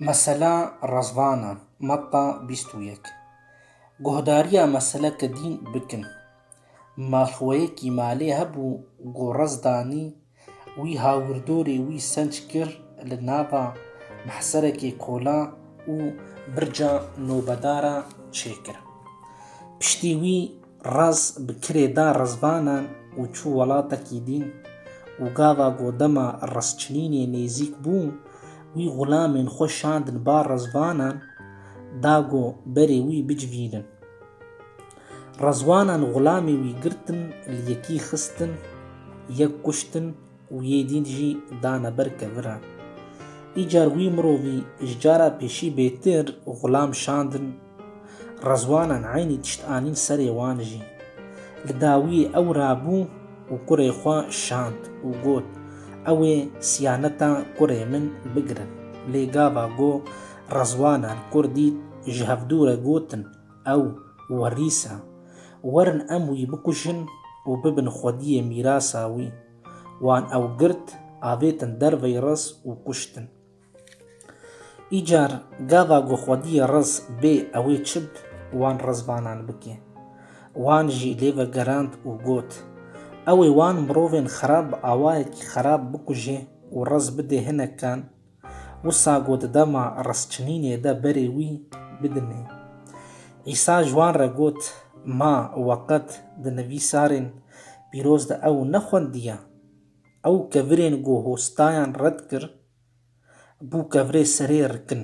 Mesela Rezvana, Matta bîst û yek Guhdarîya meseleke dîn bikin. Malxweyekî malê hebû ku rez danî wî hawirdorê wî senc kir li nava mehserekê kola û birca nobedara çêkir. Piştî wî Raz bi kirê da rizvanan û çû welatekî dîn û gava ku dema rizçinînê nêzîk bû wî xulamên xwe şandin ba rizvanan da ku berê wî bicivînin. Rizvanan xulamê wî girtin li yekî xistin, yek kuştin Û yê dîn jî dane ber keviran. Îcar wî mirovî ji cara pêşî bêtir xulam şandin, rezwanan eynî tişt anîn serê wan jî. Li dawiyê ew rabû û kurê xwe şand û got, Ew ê siyaneta kurê min bigirin. Lê gava ku rezwanan kur dît, ji hevdû re gotin, Ew werîs e. Werin em wî bikujin û bibin xwediyê mîrasa wî. Wan ew girt, avêtin derveyî riz û kuştin. Îcar gava ku xwediyê riz bê ewê çi bi wan rizvanan bike. Wan jî lê vegerand û got, Ewê wan mirovên xerab bi awayekî xerab bikuje û riz bide hinekan Wisa ku di dema risçinînê de berê wî bidimê. Îsa ji wan re got, Ma we qet di nivîsarên pîroz de ew nexwendiye? Ew kevirên ku hostayan red kir, bû kevirê serê rikin.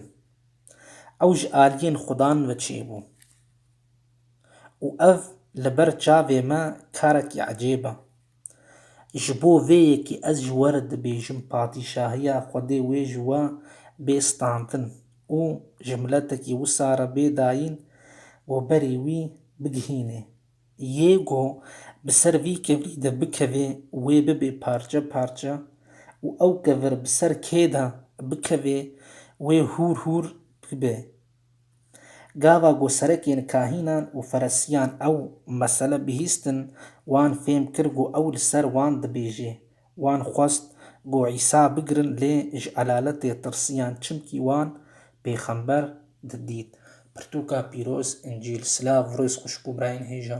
Ew ji aliyên Xudan ve çêbû. Û ev li ber çavê me karekî ecêb e. Ji bo vê yekê ez ji we re dibêjim patîşahiya Xwedê wê ji we bê standin û ji miletekî wisa re bê dayîn û berî wî bigihînê. Yê ku bi ser vî kevirî de bikevê wê bibe parçe parçe û ew kevir bi ser kê de bikevê wê hûr hûr bibe. Gava ku serekên kahînan û feresiyan ew mesele bihîstin, wan fêm kir ku ew li ser wan dibêje. Wan xwest ku Îsa bigirin lê ji elaletê tirsiyan çimkî wan pêxember didît. Pirtûka pîroz, Încîl. Silav Rûz xwişk û birayên hêja.